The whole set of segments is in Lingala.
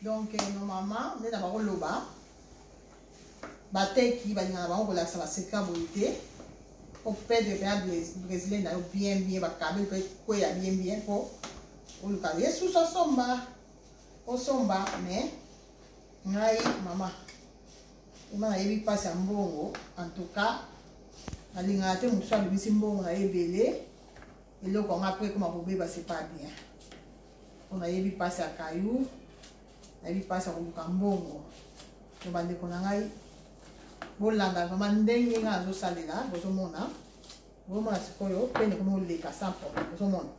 donc eh, no mama nde na bakoloba bateki balingaka bango kolakisa baseka boye te opede mpe ya brésilien na yo bien bien bakabe mpe kweya bien bien mpo oluka yesus osomba osomba mais ngai mama ema nayebi mpasi ya mbongo en tout cas nalingaka te mosusu abimisi mbongo na ye ebele eloko yango apres ekoma kobeba c'est pas bien mpo nayebi mpasi ya kayu nayebi mpasi ya koluka mbongo to bandeko na ngai bolanda vraimen ndenge ngai nazosalela bozomona bozomona sikoyo pene komi oleka sans problème bozomona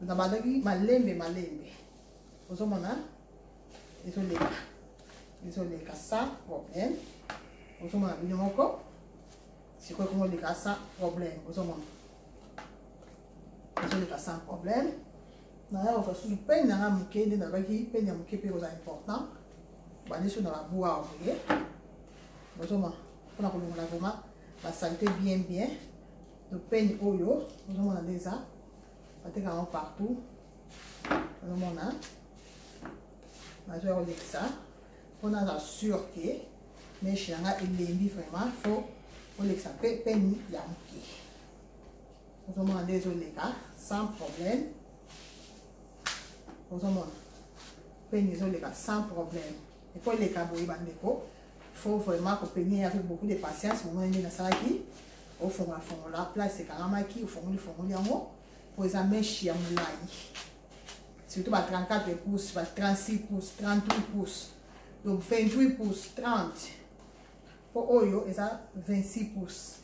na bandaki malembe malembe bozomona ezoleka ezoleka sans problème bozomona bino moko sikoyo komi oleka sans problème bozomona ezoleka sans problème naya kozwa susu pene na ngai moke nde nalobaki pene ya moke mpe kozala important bandi so na babua awa boye bozoma mpona kolongola vrema basalite bien bien to pene oyo ozomona nde eza bateka yango partout ozomona nazoya kolekisa mpo naza sur ke meshe na ngai elembi vraiment fo olekisa mpe pene ya moke ozomona nde ezoleka sans problème ozomona peni ezoleka sans problème eko eleka boye bandeko faut vraiment kopenie avec beaucoup de patience momoni nde nasalaki ofongola fongola place ekangamaki ofongoli fongoli yango mpo eza meshe ya molai surtout ba 34 pouces ba 36 pouces 38 pouces donc 28 pouces 30 mpo oyo eza 26 pouces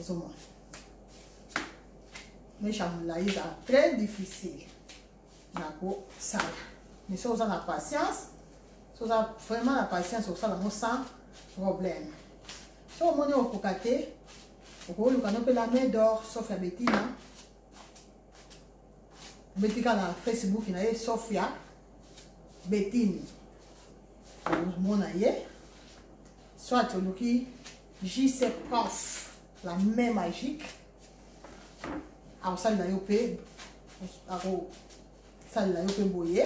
ozomona meshe ya molai ezala très difficile na kosala mais soki oza na patience soki oza vraiment na patience okosala yango sans problème soki omoni okokoka te okoluka no mpe la main d'or sauf ya betina obetika na facebook na ye sauf ya betine omona ye soit oluki JC Prof, la main magique. akosalela yo mpe akosalela yo mpe boye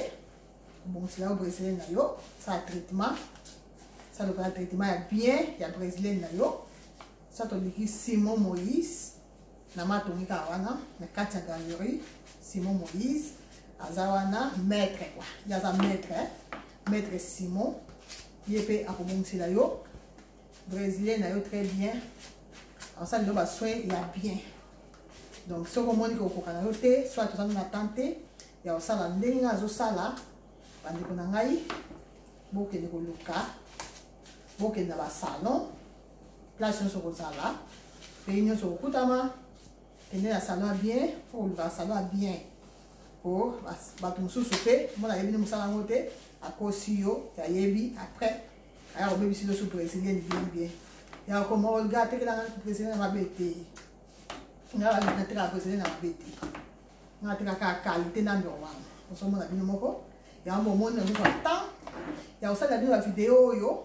obongisela yo brésilienne na yo sala traitement sala lokola traitement ya bien ya brésilienne na yo sa toliki simon moïse na matongi kaka wana na kati ya galerie simon moïse aza wana maître kua ye aza maître maître simon ye mpe akobongisela yo brésilien na yo très bien asali ndo basoin ya bien donc soki omoni kokoka na yo te soit ozali na temps te ya kosala ndenge ngai azosala bandeko na ngai bokende koluka bokende na basalon place nyonso kozala pays nyonso kokutama kende na salon ya bien fo koluka salon ya bien po bato mosusu mpe mona ayebi nde mosala yango te akosi yo yayebi après aya kobebisi loso brésilien bien bien ya koma olga atekelanga brésilien na mabe te nga balingi natekaka brésilien na mabe te nga atekaka qualité na ndoko wana ozomona bino moko yango bomoni nazozwa temps ya kosalela bino bavideo oyo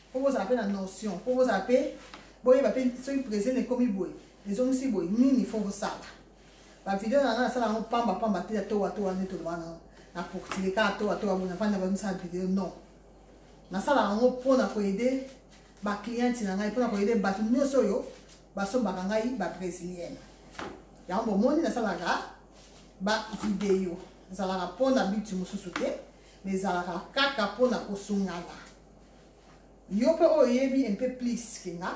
mpo bozala mpe na notion mpo bozala mpe boyeba mpe soki brésilien ekomi boye ezongisi boye nini fo bosala bavideo na nga nasala yango pamba pamba te ya towa towa nde tolobana na portile kaka towa towa boye nafanda bamisala video non nasalaka yango mpo na koede bacliente na ngai mpo na koede bato nyonso oyo basombaka ngai babrésilienne yango bomoni nasalaka bavideo ezalaka mpo na biti mosusu te ma ezalaka kaka mpo na kosungana yo mpe oyo oyebi mpe plus kenga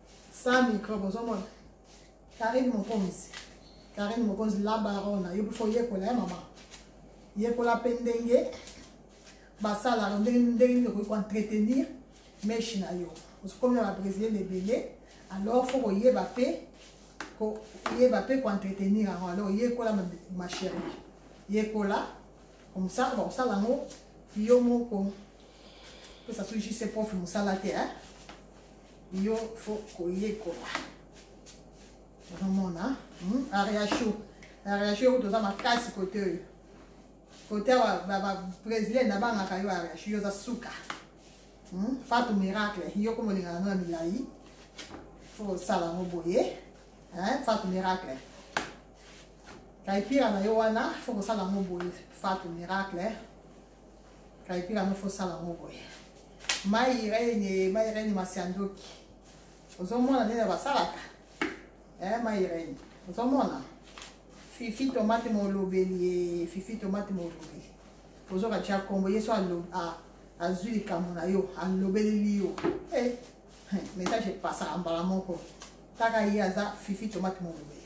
sans microbe ozomona karine mokonzi karine mokonzi la barona yo mpe fo yekola ye mama yekola mpe ndenge basalaka ndenge ndenge nini okoki koentretenir meshi na yo okomi na babrésilienne ebele alors fo koyeba mpe koyeba mpe koentretenir yango alors yekola ma chérie yekola komosaka bakosala yango yo moko pesa so jise profi mosala te hein? yo fo koyekola ozomona hmm? ariachou ariachou yokuti oza makasi kote oyo kote awa babrésilien nabangaka yo ariachou yo oza suka hmm? fatu miracle yo komolingana no na milai fo osala yango boye fatu miracle kaipira na yo wana fo kosala yango boye fatu miracle kalipila yango fosala yango boye mai rene mai rene masiandoki ozomona ndenge basalaka eh, mai rene ozomona fifi tomate molobeli ye fifi tomate molobeli ozoka tya nkombo yesu azwi likambo na yo alobeleli yo eh, message epasaka mbala moko kaka ye aza fifi tomate molobeli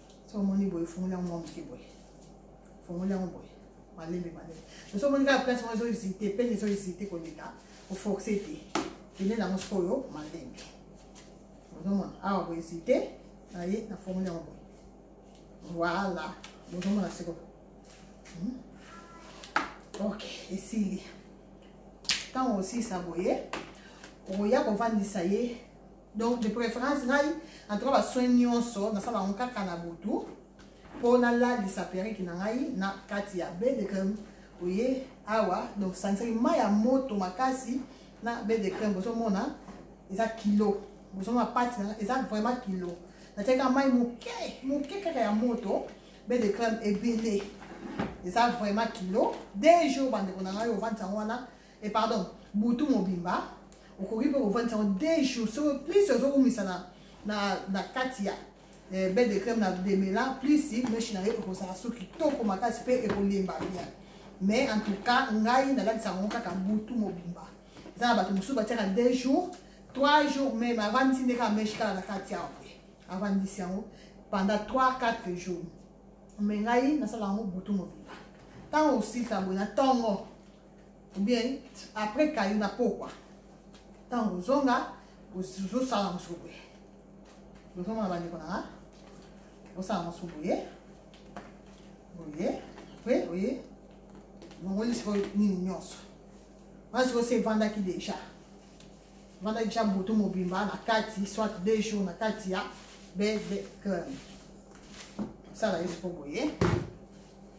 so omoni boye fungoli yango mwa moke boye fungoli yango boye malembe malembe soso omoni kaka place moko ezohésite pene ezohésite koleka oforce te pene nango sikoyo malembe ozomona awa bohésite naye na fungoli yango boye voilà bozomona sikoyo hmm? ok esili ntango osilisa boye okoya kovandisa ye donc de préférence ngai en tout cas basoin nyonso nasala yango kaka na butu mpo nalalisa periki na ngai na kati ya bedecreme oye awa donc sangisaki mai ya moto makasi na bedecreme bozomona eza kilo bozomona pati na eza vraiment kilo natiaki kaka mai moke moke kaka ya moto bedecreme ebele eza vraiment kilo de jour bandeko na ngai ovandisa yango wana e pardon butu mobimba okoki mpe kovandisa yango de jour soko plus ozokumisa na, na, na kati ya eh, bel de crème na demela plus meshi na yo ekozala so kitoko makasi mpe ekolemba bien mais en tout cas ngai nalatisa yango kaka butu mobimba eza na bato mosusu batiaka de jour trois jours meme avandisi nde kaka meshi kaka na kati yango te avandisi yango pendant trois quatre jours me ngai nasala yango butu mobimba ntango osilisa boye na ntongo ou bien après kayo na pokwa ntango ozonga ozosala mosusu boye ozomona bandeko nanga osala mosusu boye boye apres oye bongoli sikoyo nini nyonso wana sikoyo se evandaki deja evandaki deja butu mobimba na kati soit deux jours na kati ya bebe club osala ye sikoyo boye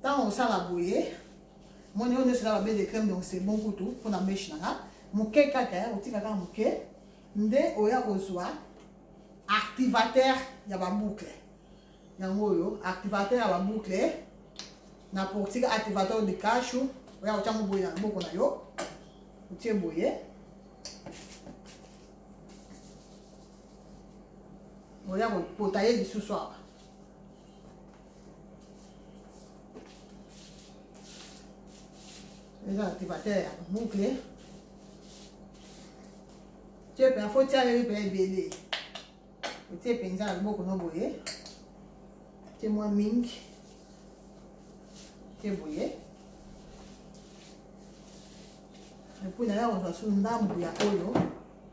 ntango osala boye moni oyo nyonso eza babe de crème donc c'est bon kutu mpo na meshe na nga moke kaka ya kotika kaka moke nde oya kozwa activateur ya baboucle yango oyo activateur ya baboucle na portique activateur de cashu oya kotya ngo boye na loboko na yo otie boye oya kopota ye lisusu awa eza activateur ya boucle tie mpe afo tia yo mpe ebele otie mpenza na loboko no boye tie mwa mingi tie boye epui naye akozwa su ndambu ya oyo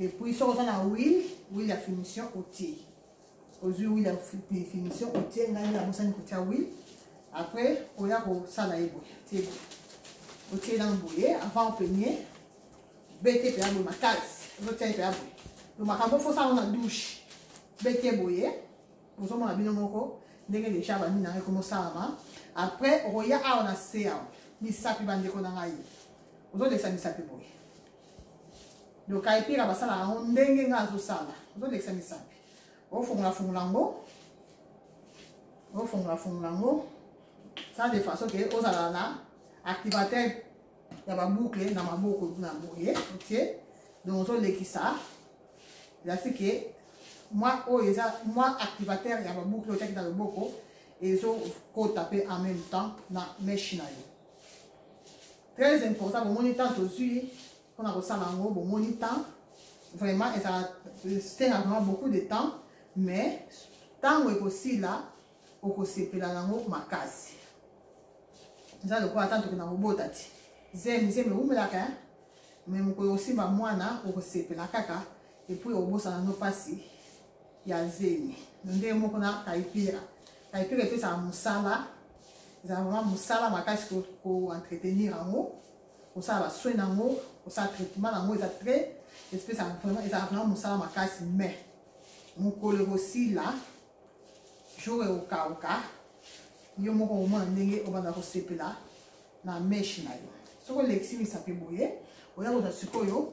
epuis soki oza na wil wil ya finition otie ozwi wil ya finition otie ngai nde nabosani kotia wil après oya kosala ye boye tie boye otie nano boye avant openie bete mpe ya boye makasi ozotia ye mpe ya boye to makambo fosala na douche bete boye ozomona bino moko ndenge deja bandi na ngai ekomosalama après okoya awa na se awa misapi bandeko na ngai ozolesa misapi boye donc kaipira basalaka yango ndenge ngai azosala ozolekisa misapi ofongola fongola yango ofongola fongola yango sala de façon ke ozala na activateur ya baboucle na maboko na boye otie donc ozolekisa elasi ke mwa oyo eza mwa activateur ya baboucle otiaki na loboko ezokota mpe en même temps na meshe na yo très important bomoni temps tozwi mpona kosala yango bomoni temps vraiment ezala esenga vraiment beaucoup de temps mais ntango ekosila okosepela nango makasi eza lokola ata toke na kobota ti zemi zemi ewumelaka me mokolo osimba mwana okosepela kaka epuis obosana no mpasi ya zemi ndenge moko na taipira taipira epesaka mosala ezala vraiment mosala makasi koentretenir yango kosala basoin na yango kosala traitement na yango eza très espesaka vraiment ezala vraiment mosala makasi mai mokolo ekosila jour ekokauka yo moko omona ndenge obanda kosepela na meshe na yo soki olekisi misapi boye oya kozwa sikoyo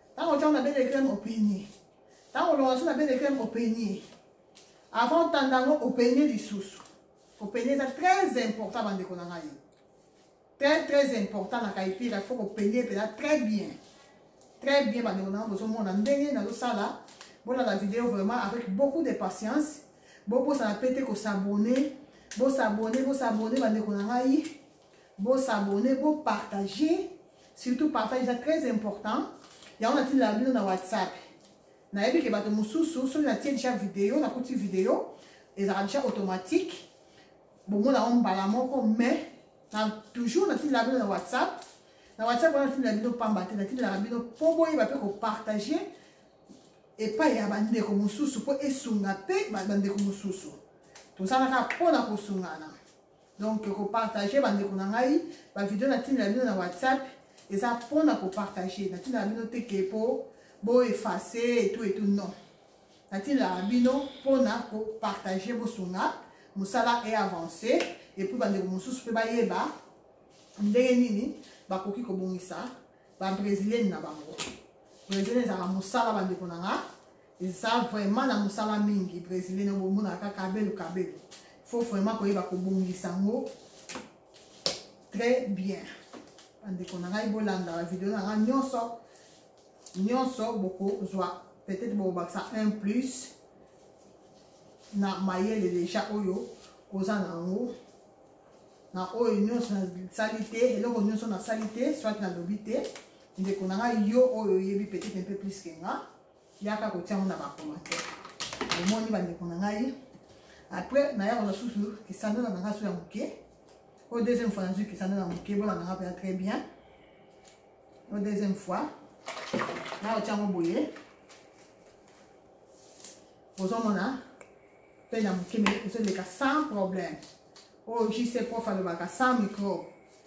Tango tango na belle crème opeigne. Tango longa so na belle crème opeigne. Avant tanda yango opeigne lisusu. Opeigne eza très important bandeko na ngai. Très très important na kaipira faut opeigne pela très bien. Très bien bandeko na ngai bozomona ndenge nazosala bolanda video vraiment avec beaucoup de patience bobosana pe te kosabone bosabone bosabone bandeko na ngai Bo s'abonner, bo partager. Surtout partage, c'est très important. Yango na tindela bino na WhatsApp. nayebi ke bato mosusu soki natie deja video nakuti video ezalaka deja automatique bomona yango mbala moko mais na toujours natindela bino na whatsapp na whatsapp wana natindela bino pamba te natindelaka bino mpo boyeba mpe kopartage epai ya bandeko mosusu mpo esunga mpe bandeko mosusu tozalaka mpo na kosungana donc kopartage bandeko na ngai bavideo natindela bino na whatsapp eza mpo na kopartage natindela bino te ke mpo boefase etu etu non natindelaka bino mpo na kopartage bosunga mosala e avance epuis bandeko mosusu mpe bayeba ndenge nini bakoki kobongisa babrésilienne na bango brésilien ezalaka mosala bandeko na nga eza vraiment na mosala mingi brésilien na bomona kaka kabelo kabelo faut vraiment koyeba kobongisa yango très bien bandeko na ngai bolanda bavideo na ngai nyonso nyonso bokozwa peut-être bokobakisa un plus na mayele deja oyo oza na yango na oyo nyonso nasali te eloko nyonso nasali te soit nalobi te ndeko na ngai yo oyo oyebi peut-être un peu plus ke nga yaka kotia yango na bacommentaire omoni bandeko na ngai après naya kozwa susu kisandola na ngai so ya moke oyo deuxième fois nazwi kisandola na moke bona na ngai mpenza très bien oyo deuxième fois naya kotia yango boye ozomona mpe na moke me ezoleka sans problème oyo jc prof alobaka sans micro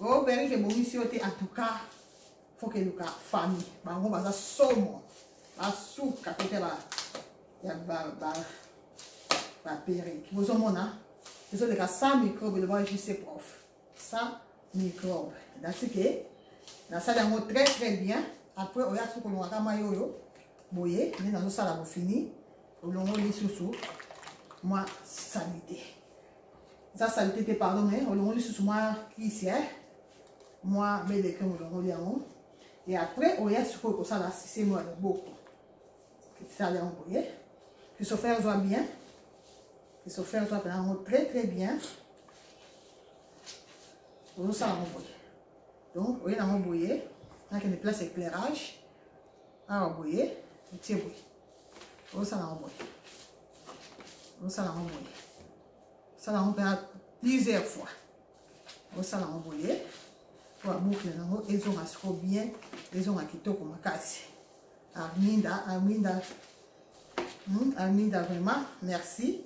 Oh, Peric ebongisi yo te en tout cas. Faut que luka famille. Bango baza somo. Basuka kote ba ya ba ba ba Peric. Bozo mona. Bozo leka sans microbe le bon JC prof. Sans microbe. That's it. Nasali yango très très bien. Après oya suko longaka mayi oyo. Boye, nde nazosala bofini. Olongoli lisusu mwa salite. eza salite te pardon mais olongoli susu mwa kisi eh? mwa bele creme olongoli yango et après oya sikoyo kosala sisemo ya loboko sala yango boye kisofere ezwa bien kisofere ezwa mpena yango très très bien ozosala yango boye donc oye nango boye nakende place éclairage awa boye otie boye osala yango boye osala yango boye osala yango mpe plusieurs fois osala yango boye mpo aboukle yango ezonga siko bien ezonga kitoko makasi arminda arminda hmm, arminda vraiment merci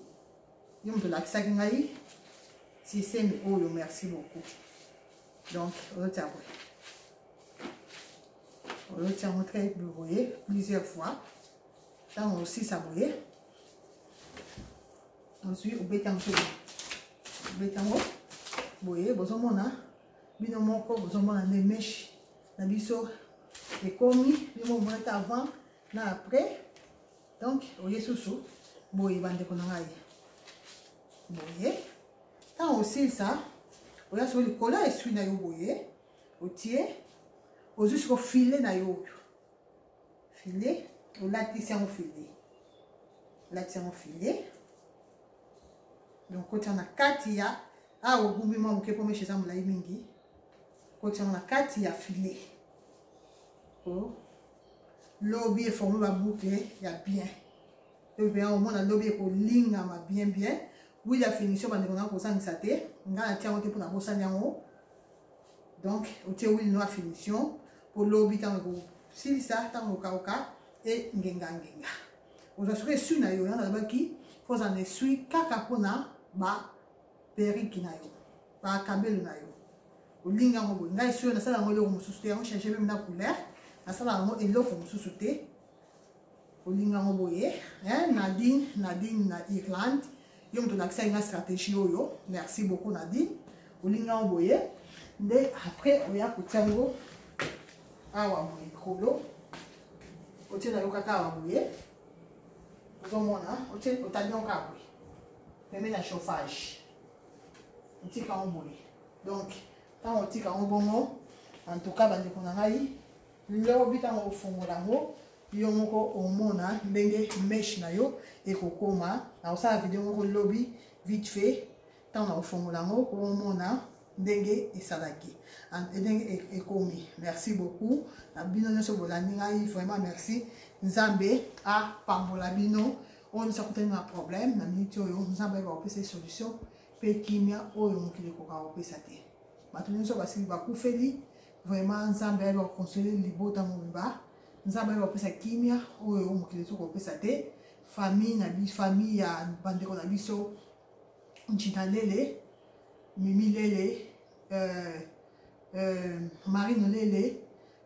yo moto olakisaki ngai systeme oyo merci beaucoup donc ozotia boye oloti yango très boye plusieurs fois ntango osisa boye ozwi obeti yango mpe obeti yango boye bozomona bino moko bozomona nde meshe na biso ekomi bino omonaki avant na après donc oye susu boye bandeko na ngai boye ntango osilisa oya soko likolo ya eswi na yo boye otie ozwi siko file na yo oyo file olatisi yango file olatisi yango file donc kotia na kati ya awa ah, ogumbi mwa moke mpo meshe eza molai mingi kotia yango na kati ya file oh. lobi eforme baboucle ya bien toyebea omona lobi ekolingama bien bien wili ya finition bandeko na kozangisa te ngai natia yango te mpo nabosani yango donc otie huile noire finition po lobi ntango ekosilisa ntango okauka e ngenga ngenga ozwa soki esui na yo yango nalobaki mpo ozala na esui kaka mpona baperiki na yo bakabelo na yo olingi yango boye ngai esui oyo nasala yango eloko mosusu te yango change meme na couleur nasala yango eloko mosusu te olinga ngo boye eh, nadine nadine na irlande yo moto olakisaki nga stratégie oyo merci beaucoup nadine olinga ngo boye nde après oya kotia ngo awa boye likolo otie na yo kaka awa boye ozomona otandi yango kaka boye pembe na chauffage otika yango boye donc ntango otika yango bongo en tout cas bandeko na ngai lobi ntango okofongola yango yo moko omona ndenge meshe na yo ekokoma nakosala video moko lobi vite fait ntango nakofongola yango omona ndenge esalaki ndenge e, ekomi merci beaucoup na bino nyonso bolandi ngai vraiment merci nzambe apambola bino oyo nyonso akutani na problème na miniti oyo nzambe ayeba kopesa solution mpe kimia oyo mokili ekoka kopesa te bato nyonso basili bakufeli vraiment nzambe ayeba kokonsole libota mobimba nzambe ayeba kopesa kimia oyo mokili ezo kopesa te famille na biso famille ya bandeko na biso njina lele mimi lele euh, euh, marine lele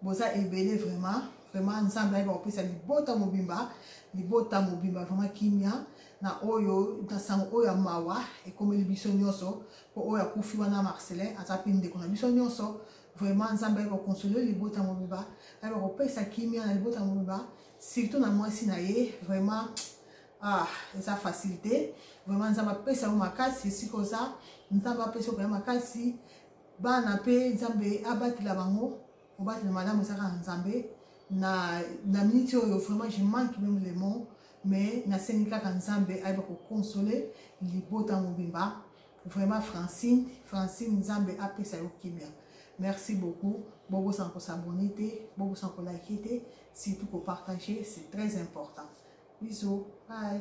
boza ebele vraiment vraiment nzambe ayeba kopesa libota mobimba libota mobimba vraiment kimia na oyo na sango oyo ya mawa ekomeli biso nyonso po oyo akufi wana marcelin aza mpe ndeko na biso nyonso vraiment nzambe ayeba konsole libota mobimba ayeba kopesa kimia na libota mobimba surtout na mwasi na ye vraiment ah eza facile te vraiment nzambe apesa yo makasi esika oza nzambe apesa yo makasi bana mpe nzambe abatela bango obatela malamu eza kaka nzambe na, na miniti oyo vraiment je manque meme le mot mais nasengi kaka nzambe ayeba kokonsole libota mobimba vraiment francine francine nzambe apesa yo kimia merci beaucoup bobosana kosabone te bobosana kolike te surtout kopartage c'est très important biso bye